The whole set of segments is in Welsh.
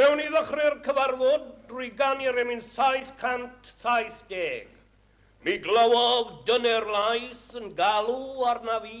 Gawn ni ddechrau'r cyfarfod drwy ganu remin 770. Mi glywodd dyner lais yn galw arna fi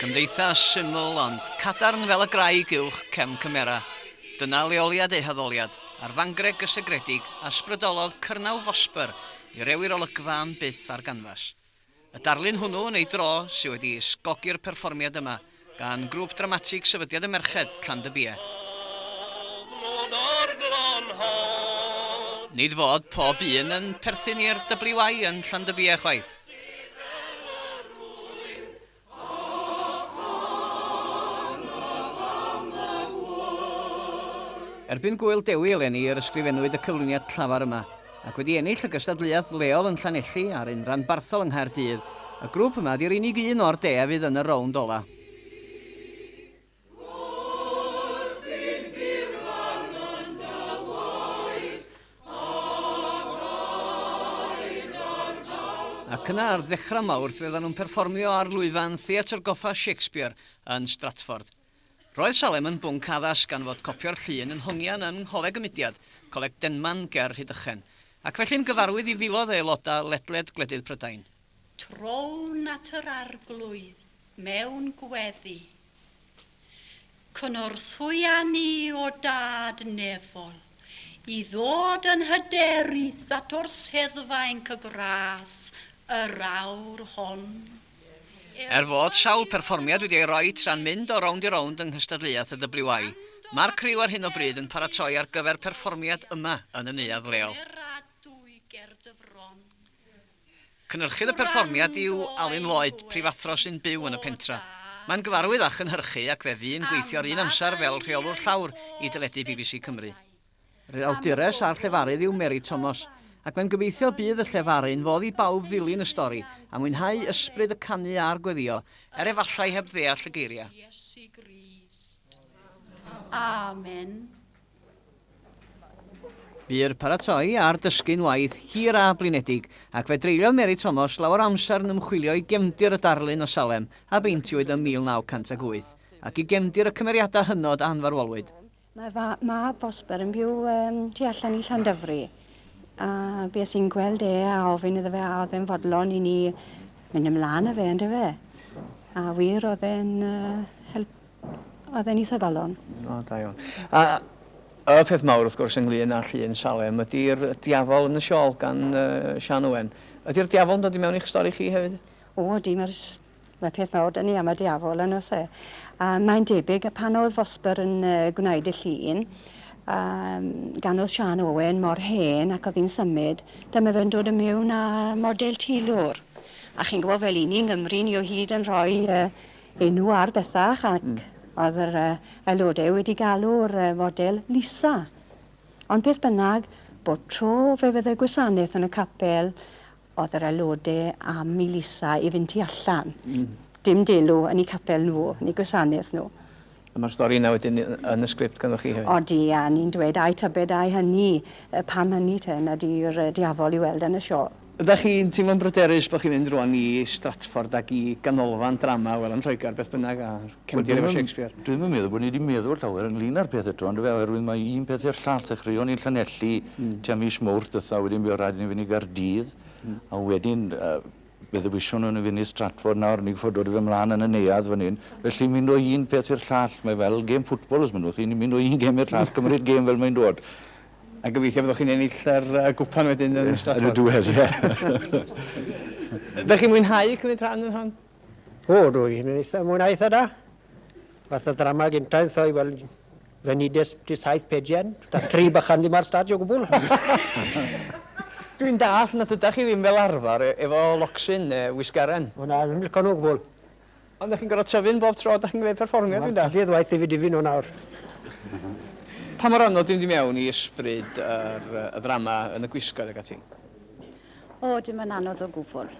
Cymdeithas syml ond cadarn fel y graig uwch cefn cymera. Dyna leoliad eu haddoliad, ar fangreg gysegredig a 'sbrydolodd cyrnau Vosper i rewi'r olygfa am byth ar ganfas. Y darlun hwnnw, yn ei dro, sydd wedi ysgogi'r perfformiad yma gan Grŵp Dramatig Sefydliad y Merched, Can de Bia. Nid fod pob un yn perthyn i'r WI yn Llandybia chwaith. Erbyn Gŵyl Dewi eleni yr ysgrifennwyd y cyflwyniad llafar yma, ac wedi ennill y gystadleuaeth leol yn Llanelli a'r un ranbarthol yng Nghaerdydd, y grŵp yma ydi'r unig un o'r de a fydd yn y rownd ola. Ac yna ar ddechrau Mawrth fyddan nhw'n perfformio ar lwyfan Theatr Goffa Shakespeare yn Stratford. Roedd Salem yn bwnc addas gan fod copio'r llun yn hongian yng Ngholeg y Mudiad, Coleg Denman ger Rhydychen, ac felly'n gyfarwydd i filoedd o aelodau ledled gwledydd Prydain. Trown at yr Arglwydd mewn gweddi. Cynorthwya ni, o Dad nefol, i ddod yn hyderus at orseddfaen cygras yr awr hon. Er fod sawl perfformiad wedi ei roi tra'n mynd o rownd i rownd yng nghystadleuaeth y WI, mae'r criw ar hyn o bryd yn paratoi ar gyfer perfformiad yma yn y neuadd leol. Cynhyrchydd y perfformiad yw Alun Lloyd, prifathro sy'n byw yn y pentre. Mae'n gyfarwydd â chynhyrchu ac fe fu'n gweithio ar un amser fel rheolwr llawr i deledu bbc Cymru. Yr awdures a'r llefarydd yw Mary Thomas, ac mae'n gobeithio bydd y llefaru'n fodd i bawb ddilyn y stori a mwynhau ysbryd y canu a'r gweddïo, er efallai heb ddeall y geiriau. Iesu Grist. Amen. Bu'r paratoi a'r dysgu'n waith hir a blinedig, ac fe dreuliodd Mary Thomas lawer o amser yn ymchwilio i gefndir y darlun o Salem a beintiwyd ym 1908, ac i gefndir y cymeriadau hynod a ynfarwolwyd. Mae fy mab Vosper yn byw tu allan i Llandyfri, a bues i'n gweld e a ofyn iddo fe a oedd e'n fodlon i ni mynd ymlaen â fe, yndyfe? A wir, oedd e'n help Oedd e'n eitha galon. O, da iawn. A y peth mawr, wrth gwrs, ynglyn â llun Salem ydy'r diafol yn y siol gan Sian Owen. Ydy'r diafol yn dod i mewn i'ch stori chi hefyd? O, ydy, mae'r mae peth mawr dyn ni am y diafol yn os e. A mae'n debyg y pan oedd Fosber yn gwneud y llun, um, gan oedd Sian Owen mor hen ac oedd hi'n symud, dyma fe'n dod yn mewn â model tilwr. A chi'n gwybod fel i ni, Nghymru, ni o hyd yn rhoi uh, enw ar bethach ac oedd yr yy aelode wedi galw'r yy fodel Lisa. Ond beth bynnag, bob tro fe fydde gwasanaeth yn y capel, oedd yr aelode am i Lisa i fynd tu allan. Mm. Dim delw yn 'u capel nhw, yn 'u gwasanaeth nhw. A mae'r stori yna wedyn yn y sgript ganddoch chi hefyd? Odi, a ni'n dweud ai tybed ai hynny, pam hynny te, nad yw'r diafol i'w weld yn y siôl? Ydach chi'n teimlo'n bryderus bod chi'n mynd rwan i Stratford ac i ganolfan drama, wel yn Lloegr beth bynnag, a cefndir efo Shakespeare? Dwi'm yn meddwl bod ni 'di meddwl llawer ynglŷn â'r peth eto yndyfe, oherwydd mae un peth i'r llall. Ddechreuon ni yn Llanelli tua mis Mowrth dwetha, wedyn fuodd raid i ni fynd i Gaerdydd, a wedyn Fe ddewisiwn i ni fynd i Stratford nawr, ni'n gorfod dod â fe mlaen yn y neuadd fan hyn. Felly mynd o un peth i'r llall, mae fel gêm ffwtbol os mynnwch chi, ni'n mynd o un gêm i'r llall, cymryd gêm fel mae'n dod. A gobeithio byddwch chi'n ennill yr yy gwpan wedyn yn Stratford. Yn y diwedd, ie. Ydych chi'n mwynhau cymryd rhan yn hon? O, rwy'n eitha mwynhau eitha da. Fath o ddrama gynta yn thoi, wel, fe nides ti saith pejian, da tri bychan ddim ar stad o gwbl. Dwi'n dallt nad ydach chi ddim fel arfer e- efo locsyn ne wisgaren. O na, dwi'm lico nhw o gwbl. Ond dach chi'n gorfod tyfu yn bob tro dach chi'n gwneud perfformiad, dwi'n dallt? Wel, duedd waeth i fi difu nhw nawr. Pa mor anodd yw mynd i mewn i ysbryd yr y ddrama yn y gwisgoedd ag ati? O, dim yn anodd o gwbl.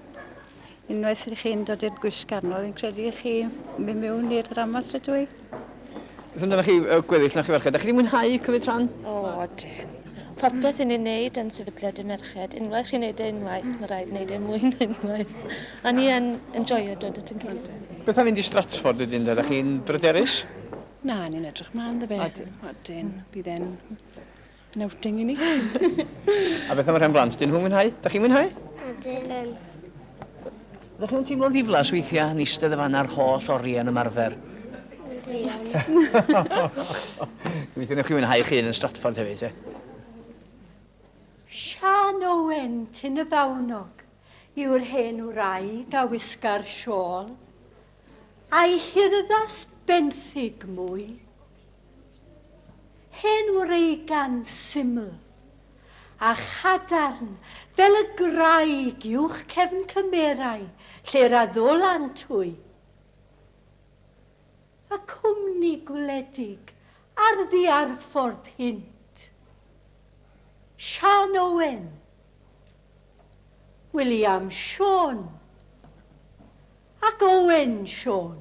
Unwaith i chi'n dod i'r gwisgar nhw, fi'n credu i chi mynd mewn i'r ddrama straight away. Beth amdanoch chi uh, gweddill na chi ferched? Da chi wedi mwynhau cymryd rhan? O, dim. Popeth yn ei wneud yn sefydliad y merched. Unwaith chi'n wneud e unwaith, mae rhaid wneud e mwy na unwaith. A ni yn enjoyo dod at yn gilydd. Beth am fynd i Stratford wedyn? Da chi'n bryderus? Na, ni'n edrych mlaen dda fe. Odyn. Odyn. Bydd e'n Yn outing i ni. A beth am y rhan blant? Dyn nhw'n mwynhau? Da chi'n mwynhau? Ydyn. Ydych chi'n teimlo'n ddiflas weithiau yn eistedd y fan a'r holl oriau yn ymarfer? Diolch. Weithiau newch chi mwynhau chi yn Stratford hefyd, te? Sian Owen, Tyn y Fawnog, yw'r hen wraig a wisga'r siôl. A'i hurddas benthyg mwy. Hen wreigan syml a chadarn fel y graig uwch cefn cymerau lle'r addolant hwy. Y cwmni gwledig ar ddiarffordd hynt. Siân Owen. William Siôn. Ac Owen Siôn.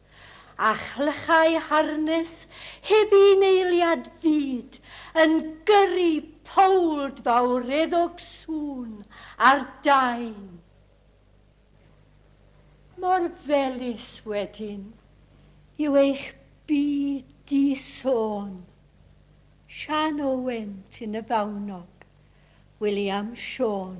a chlychau harnes heb un eiliad fyd yn gyrru powld fawreddog sŵn ar daen. Mor felys wedyn yw eich byd di-sôn. Siân Owen, Tyn y Fawnog, William Siôn.